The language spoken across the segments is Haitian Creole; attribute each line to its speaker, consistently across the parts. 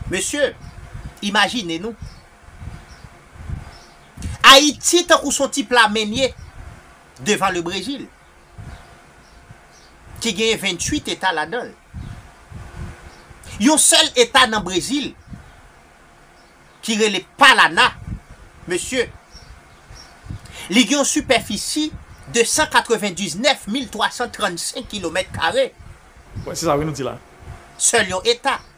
Speaker 1: Mesye, imajine nou. Ayiti tankou son ti pla menye devan le Brezil ki genyen 28 eta ladanl. Yon sèl eta nan Brezil ki rele Palana, mesye, li gen yon sipèfisi 299335 kilomèt kare.
Speaker 2: Wè, se sa wi nou di la. Sèl yon eta.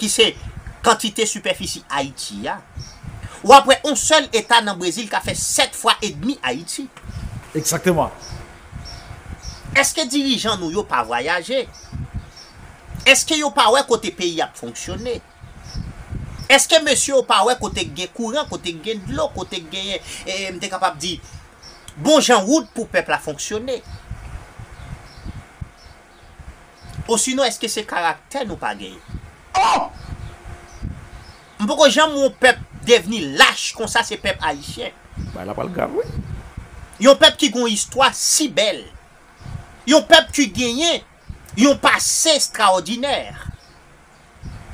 Speaker 1: ki se kantite sipèfisi Ayiti a, w ap wè on sèl eta nan Brezil ka fè 7 fwa edmi Ayiti. Egzakteman. Eske dirijan nou yo pa vwayaje? Eske yo pa wè kote peyi ap fonksyone? Eske mesye yo pa wè kote k gen kouran, kote k gen dlo, kote k genyen, m te kapab di, bon jan wout pou pèp la fonksyone? Osinon eske se karaktè nou pa genyen? Oh! M poko janm wè yon pèp devni lach konsa se pèp Ayisyen. Bagay la pral grav
Speaker 2: wi. Yon pèp
Speaker 1: ki gen yon istwa si bèl. Yon pèp ki genyen yon pase estraòdinè.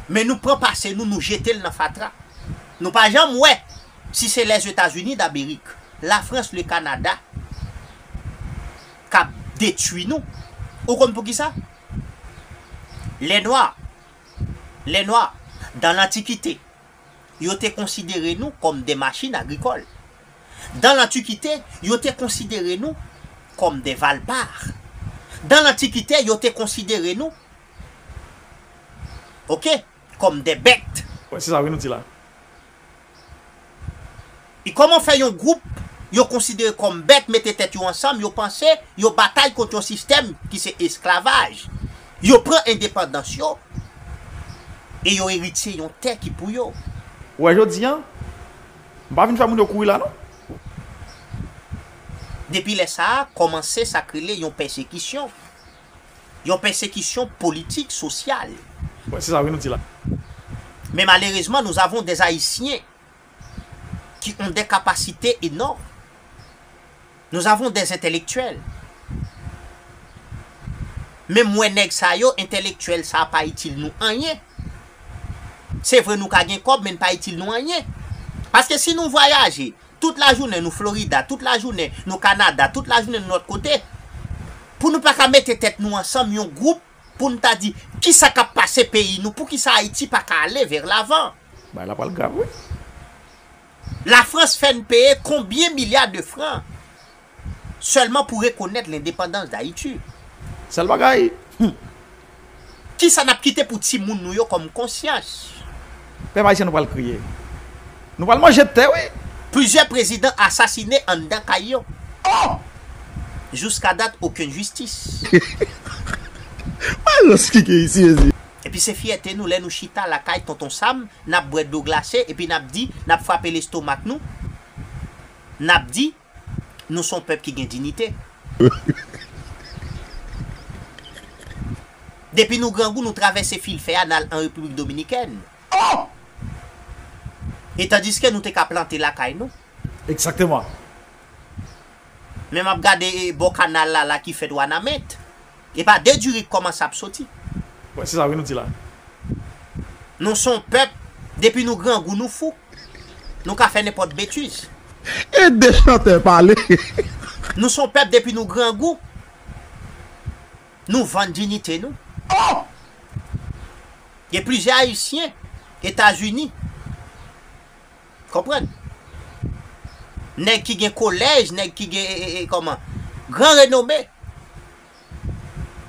Speaker 1: men nou pran pase nou nou jetel nan fatra nou pa janm wè si se lèzetazini damerik lafrans le kanada kap detwi nou ou konn poukisa lè nwa lè nwa dan lantikite yo te konsidere nou kòm de machin agrikòl dan lantikite yo te konsidere nou kòm de valpar dan lantikite yo te konsidere nou Ok kòm dè bèt. Wè se sa wi nou di la. E kòman fè yon gwoup yo konsidere kòm bèt mete tèt yo ansanm yo panse yo batay kont yon sistèm ki se esklavaj. Yo pran endepandans yo e yo eritye yon tè ki pou yo. Wè jodi an,
Speaker 2: m pa vin fè moun yo kouri la non.
Speaker 1: Depi lè sa a kòmanse sa k rele yon pèsekisyon. Yon pèsekisyon politik, sosyal. Wi, se sa wi nou
Speaker 2: di la. Men
Speaker 1: malerezman nous avons des Haïtiens qui ont des capacités énormes. Nous avons des intellectuels. Men m wè nèg sa yo, intellectuel sa pa itil nou anyen. Se vre nou ka gen kòb men n pa itil nou anyen. Paske si nou vwayaje, Tout lajounen nou Florida, tout lajounen nou Canada, tout lajounen nou lòt kote, pou nou pa ka mete tèt nou ansanm yon gwoup pou n ta di ki sa k ap pase peyi nou, poukisa Ayiti pa ka ale vè lavan. Bagay la pral grav
Speaker 2: wi.
Speaker 1: Lafrans fè n peye konbyen milya de fran Sèlman pou rekonèt lendepandans Dayiti. Sèl bagay,
Speaker 2: humm.
Speaker 1: Kisa n ap kite pou timoun nou yo kòm konsyans? Pèp Ayisyen
Speaker 2: nou pral kriye. Nou pral manje tè wi! Plizyè prezidan
Speaker 1: asasine anndan kay yo. Oh! Jouskadat okenn jistis. Wè rans ki gen isi mezi! Epi se fyète nou lè nou chita lakay Tonton Sam, n ap bwè dlo glase epi n ap di, n ap frape lestomak nou, n ap di. Nou son pèp ki gen dinite. Depi nou grangou nou travèse fil fè a nal an Repiblik Dominikèn. E tandiske nou te ka plante lakay nou. Exactement. Men map gade bò kanal la la ki fèt wanament. Epa de diri k kòmanse ap soti. Wè se sa wi nou
Speaker 2: di la.
Speaker 1: Nou son pèp depi nou grangou nou fou. Nou ka fè nenpòt betiz. Ede
Speaker 3: chantè pale. Nou
Speaker 1: son pèp depi nou grangou nou vann dinite nou. Oh! Gen plizyè ayisyen etazini konprann. Nèg ki gen kolèj, nèg ki gen kòman gran renome.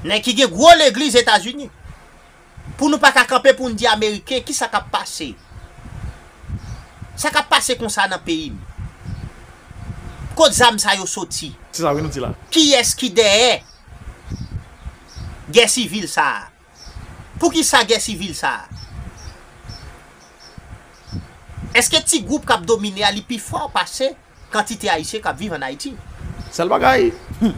Speaker 1: Nèg ki gen gwo legliz etazini. Pou nou pa ka kanpe pou n di ameriken ki sa k ap pase. Sa k ap pase konsa nan peyi m? Kot zam sa yo soti? Se sa wi nou di la.
Speaker 2: Kiyès ki dèyè
Speaker 1: gè sivil sa a? Pou ki sa gè sivil sa a? Eske ti gwoup k ap domine a li pi fò pase kantite ayisyen k ap
Speaker 2: viv
Speaker 1: ann Ayiti? Sèl bagay, humm!